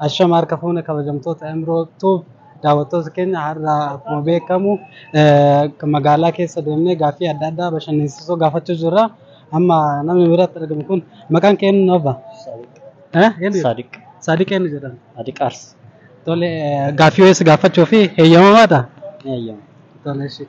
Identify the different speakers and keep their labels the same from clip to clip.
Speaker 1: Ashama harka fuune kabajamtoota Emiroo Tuub daawwattoota keenya har'a akkuma beekamu magaalaa keessa deemnee gaaffii adda addaa bashannansiisoo gaafachuu jirra. Amma namni biratti argamu kun maqaan kee eenyu obba?
Speaker 2: Saadiq. Saadiq eenyu
Speaker 1: jedhama? Saadiq Aars.
Speaker 2: Tole
Speaker 1: gaaffii wayii si gaafachuu fi heeyyamamaadha? Ni heeyyama.
Speaker 2: Tole ishee.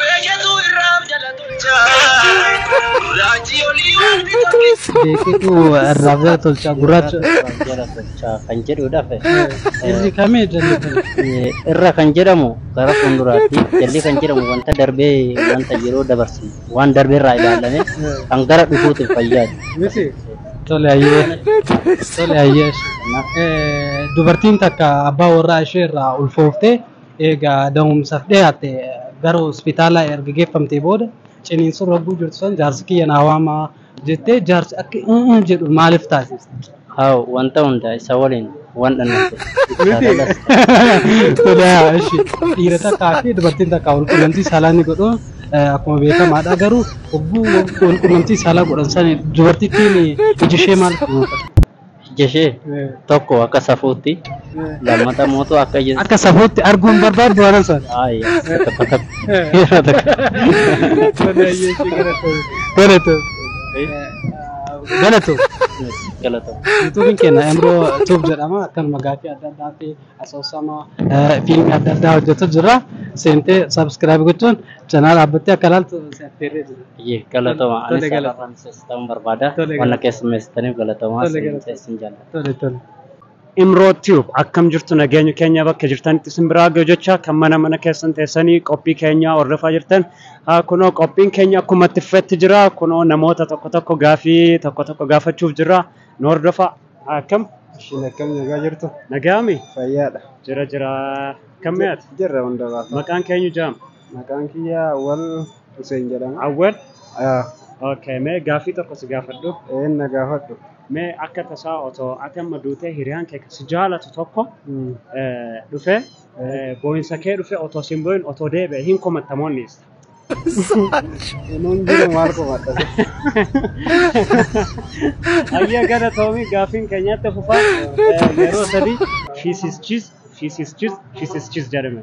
Speaker 1: Beeketu irraa jala tolcha. Gurraachi olii wanti tokkichi. Beeketu irraa jala tolcha. Gurraachi irraa jala tolcha
Speaker 2: kan jedhudha. Irri kami
Speaker 1: jalli kami? Irra kan
Speaker 2: jedhamu gara fuulduraatti, jalli kan jedhamu wanta darbee wanta yeroo dabarsine waan darbe irraa ilaalame kan gara dhufuutiif fayyaadu.
Speaker 1: Tole ayyee. Tole ayyee. Eh, Dubartiin takka abbaa warraa ishee irraa ulfooftee eegaa da'umsaaf dhiyaatte gara hospitaalaa erga geeffamtee booda ciniinsuun ragguu jirtu san jaarsi kiyya naa waamaa jettee jaarsi akka "Mm, mm" jedhu maaliif taasifte? Haa wanta
Speaker 2: hundaa isa waliin Waan dhannatu.
Speaker 1: Todaa ishi dhiira takkaa fi dubartiin takkaa wal qunnamtii saalaa ni godhu Eh, akkuma beekamaadha garuu hogguu wal qunnamtii saalaa godhan sani dubartittiin iji ishee maal kunuunfata? Ija ishee
Speaker 2: tokko akka safuutti lammata mootu akka ija Akka safuutti
Speaker 1: arguun barbaaddu waan san. Ayi, takka takka. Yeroo takka. Todaa iyyee ishee galatoomte.
Speaker 2: Galatoomte. Galatu. Galatoom. Yuutuubiin keenya
Speaker 1: Emroo Tuub jedhama. Akkanuma gaaffii adda addaa fi asoosama eh, fiilmii adda addaa hojjetu jira. Seentee sabiskiraayib gochuun chanaala dhaabbattee akka ilaaltu si affeerree jira. Iyyee galatooma. Tole, Anis
Speaker 2: galatooma. haadha Faransis ta'uun barbaada. Tole, Wanna galatooma. keessummeessitaniif galatooma. Tole, Isin galatooma. isin jaalladha. Tole tole. Imro
Speaker 3: tube akkam jirtu nageenyi keenya bakka jirtanitti isin biraa ga'u jecha kan mana mana keessan teessanii qophii keenya hordofaa jirtan haa kunoo qophiin keenya akkuma itti fufetti jira kunoo namoota tokko tokko gaafii tokko tokko gaafachuuf jirra nu hordofaa akkam Ishiin akkam
Speaker 4: nagaa jirtu? nagaami Fayyaadha.
Speaker 3: jira
Speaker 4: jira
Speaker 3: akkam mi'aati Jirra hunda baasa. maqaan
Speaker 4: keenyu jaam
Speaker 3: Maqaan kiyya
Speaker 4: Awwal Huseen jedhama. awwal
Speaker 3: Ah, okay mee gaafii tokko si gaafadhu Een na gaafadhu.
Speaker 4: Mee akka
Speaker 3: tasaa otoo ati amma duutee hiriyaan kee kan si jaalatu tokko eh, dhufee eh, boo'insa kee dhufee otoo sin boo'in otoo deebi'e hin komattamoonni isa.
Speaker 4: Nuun jiru maal qofaadha.
Speaker 3: Ayyaa gara toomii gaaffiin keenyatti fufaa eh, yeroo sadii shiisischis shiisischis shiisischis jedhame.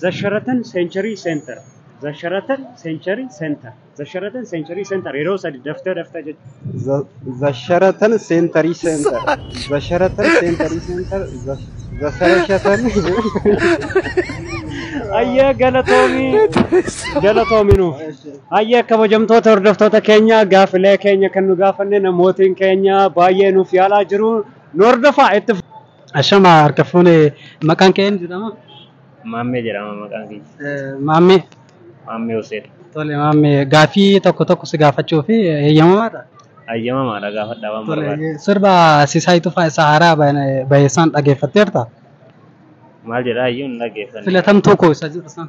Speaker 3: The Sheraton Century Center. The Sheraton Century Center. The Sheraton Century Center. Yeroo sadi daftee daftee jechuudha. The Sheraton
Speaker 4: Century Center. The Sheraton Century Center. The The Sheraton.
Speaker 3: Ayyaa galatoomii. Galatoomii nuuf. Ayyaa kabajamtoota hordoftoota keenya gaafilee keenya kan nu gaafanne namootiin keenya baay'ee nuuf yaalaa jiru. Nu hordofaa itti Ashama harka
Speaker 1: fuune maqaan kee eenyu jedhama? Maammee jedhama
Speaker 2: maqaan kiyya. Eh, Maammee.
Speaker 1: Maammee Hussein.
Speaker 2: Tole maammee
Speaker 1: gaafii tokko tokko si gaafachuu fi heeyyamamaadha. Hayyamamaadha
Speaker 2: gaafadhaa waan barbaade. Tole sirba Sisaay
Speaker 1: Tufaa isa haaraa bahe- baheessaan dhageeffatteerta?
Speaker 2: Maal jedhaa iyyuu hin dhaggeeffanne. Filatamtuu koo isa jedhu
Speaker 1: sana.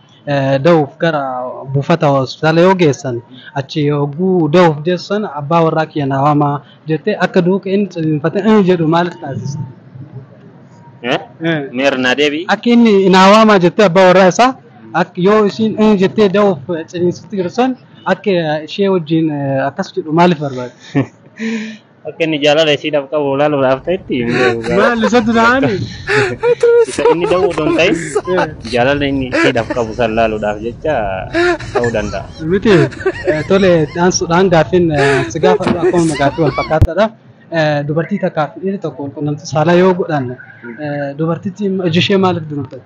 Speaker 1: dahuuf gara buufata hospitaala yoo geessan achi yogguu dahuuf geessan abbaa warraa kiyya naa waamaa jettee akka duuka inni ciniinfatee "Ee" jedhu maaliif taasiste? Eh? Eh.
Speaker 5: Mee irra naa deebi'i. Akka inni naa waamaa
Speaker 1: jettee abbaa warraa isaa akka yoo isiin "Ee" jettee dahuuf ciniinsitti jirtu san akka ishee wajjin eh, akkas jedhu maaliif barbaade?
Speaker 5: Akka inni jaalala isiidhaaf qabu ilaaluudhaaf ta'etti hin beeku. Maal isa
Speaker 1: duraani? Isa
Speaker 5: inni da'uu odoo hin ta'in jaalala inni isiidhaaf qabu san ilaaluudhaaf jecha ta'uu danda'a. Miti eh,
Speaker 1: tole dhaansuudhaan gaaffiin eh, si gaafadhu akkuma gaaffii wal fakkaataadha. Eh, Dubartii takkaaf dhiirri tokko qunnamtii saalaa yoo godhan eh, dubartittiin iji ishee maaliif dunuuftatti?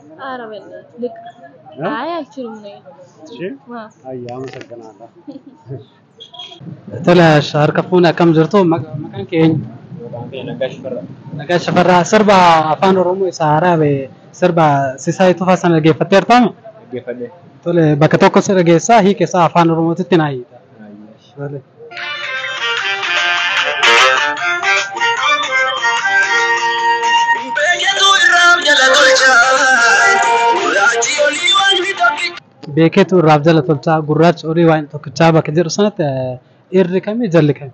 Speaker 6: Ara belle. Lik. Ha? Ay alchirum ne. Ishee?
Speaker 3: Ma. Ayyaa masakanaadha.
Speaker 1: Tole harka fuune akkam jirtu Maqa- maqaan keenya nagaa shafarraa sirba afaan oromoo isa haaraa ba'e sirba sisaayii tufaa sana dhaggeeffatteertaami
Speaker 2: tole bakka
Speaker 1: tokko si dhageessaa hiika isaa afaan oromootitti naa hiika beeketu irraaf jala tolchaa gurraachi olii waan tokkichaa bakka jedhu sanatti irri kami jalli kami.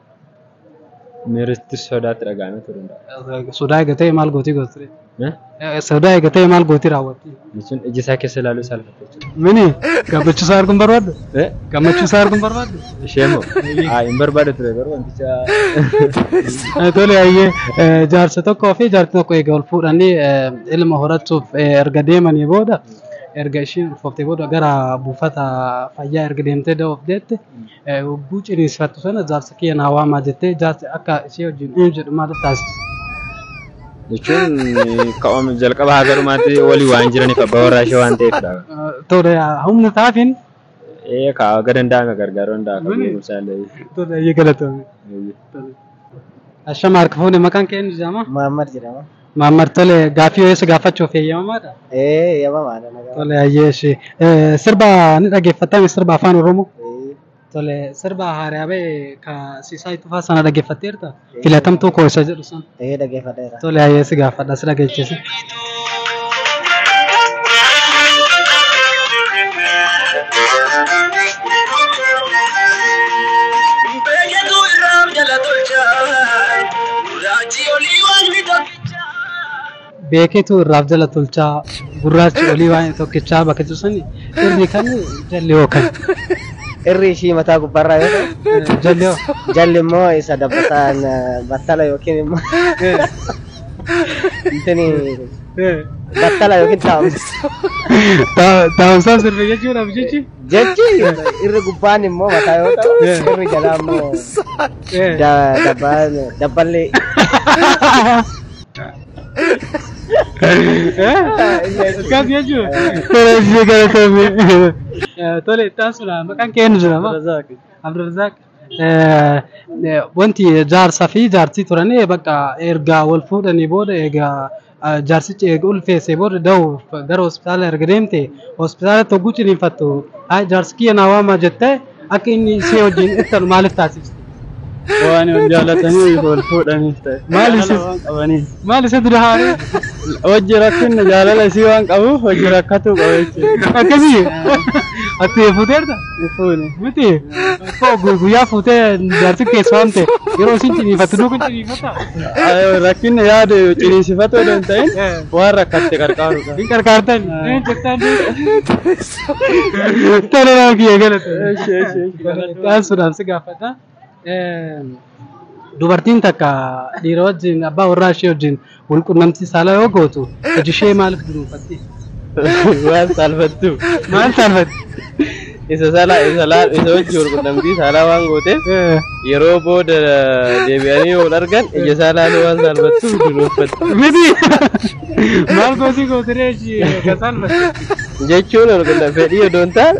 Speaker 2: Miiritti sodaatti dhaga'ame ture hundaa'a. Sodaa eega ta'e maal gootii
Speaker 1: goota ture? Sodaa eega ta'e maal gootii raawwatti? Jechuun iji isaa keessa
Speaker 2: ilaaluu isaa lafa jechuudha. Mini gammachuu
Speaker 1: isaa arguun barbaaddu? Gammachuu isaa arguun barbaaddu? Ishee moo?
Speaker 2: Haa hin barbaadu ture garuu
Speaker 1: wanticha. Tole hayyee jaarsa tokkoo fi jaarti tokko eega wal fuudhanii ilma horachuuf erga deemanii booda erga ishiin ulfooftee booda gara buufata fayyaa erga deemtee da'uuf deette Hogguu ciniinsfattu sana jaarsa kiyya naa waamaa jettee jaarsi akka ishee wajjin uum jedhu maal taasisa?
Speaker 2: Jechuun ka'oom jalqaba haga dhumaatti walii waan jiraniif abbaa warraa ishee waan ta'eefidha. Tole
Speaker 1: humna taafin. Ee kaa
Speaker 2: haga danda'ame gargaaruu danda'a kan beekumsaa illee. Tole eeyyee
Speaker 1: galatoomi. Ashama harka fuune maqaan kee eenyu jedhama? Muhammad jedhama.
Speaker 7: Maammar tole
Speaker 1: gaaffii yoo si gaafachuuf eeyyamamaadha? Ee eeyyamamaadha
Speaker 7: nagaa. Tole hayyee
Speaker 1: ishee. Sirba ni dhaggeeffattame sirba afaan Oromoo? Tole sirba haaraa ba'e ka Sisaay Tufaa sana dhaggeeffatteerta? Filatamtuu koo isa jedhu sana. Ee dhaggeeffadheera. Tole
Speaker 7: hayyee si gaafadha
Speaker 1: si dhageechisi. Beeketu irraa jala tolcha. Raajii olii waaqni tokkicha. beeketu irraaf jala tolchaa gurraachi olii waan tokkichaa bakka jiru sani irri kan jalli hoo kan
Speaker 7: Irri ishii mataa gubbaarraa yoo ta'u, Eh, jalli hoo jalli
Speaker 1: immoo isa
Speaker 7: dabbataan eh, battala yookiin immoo Eh, intini eh. battala yookiin taa'umsa. Ta-
Speaker 1: taa'umsaa sirbe jechuudhaaf jechi Jechi
Speaker 7: irri gubbaan immoo mataa yoo ta'u irri jalaa immoo Eh. da- dabba- dabballee.
Speaker 1: Akkas jechuudha. Tole, itti aansuudha. Maqaan kee eenyu jedhama? Abdurrazaaq. Wanti jaarsa fi jaartii turan bakka erga wal fuudhanii booda egaa jaarsichi eega ulfeessee booda dahuuf gara hospitaala erga deemte hospitaalatti hogguu ciniinfattu "Hayi jaarsi kiyya naa waamaa jettee akka inni ishee wajjin ittalu maaliif taasifte? Waan
Speaker 8: wal jaalataniif wal fuudhaniif ta'e. Maali Jaalala waan qabaniif.
Speaker 1: Maali isa dura haaree? Hojji
Speaker 8: rakkinna jaalala isii waan qabuuf hojji rakkatuu qaba jechuudha. Akkasii?
Speaker 1: Atti fuuteerta? Hin fuune. Miti. Koo gu- guyyaa fuutee jaarsi keessa waan ta'e yeroo isin ciniifattu duuka ciniifata. Ayoo, Rakkinni
Speaker 8: yaada ciniinsifatu odoo hin ta'in waan rakkatte qarqaaruudha. Hin qarqaartan.
Speaker 1: Hin jettan. Tole nama kiyya galata. Taasisuudhaan si gaafadha. Dubartiin takka dhiira wajjin abbaa warraa ishee wajjin wal qunnamtii saalaa yoo gootu iji ishee maaliif dunuunfatti? Waan
Speaker 8: saalfattu. Maal saalfatti?
Speaker 1: Isa
Speaker 8: sala isa laa isa wajji wal qunnamtii saalaa waan gooteef Eh, yeroo booda deebi'anii yoo wal argan ija isaa laaluu waan saalfattu dunuunfatti. Miti!
Speaker 1: Maal goosii gootiree ishii kan saalfatti? Jechuun wal
Speaker 8: qunnamtii fedhii odoo hin taane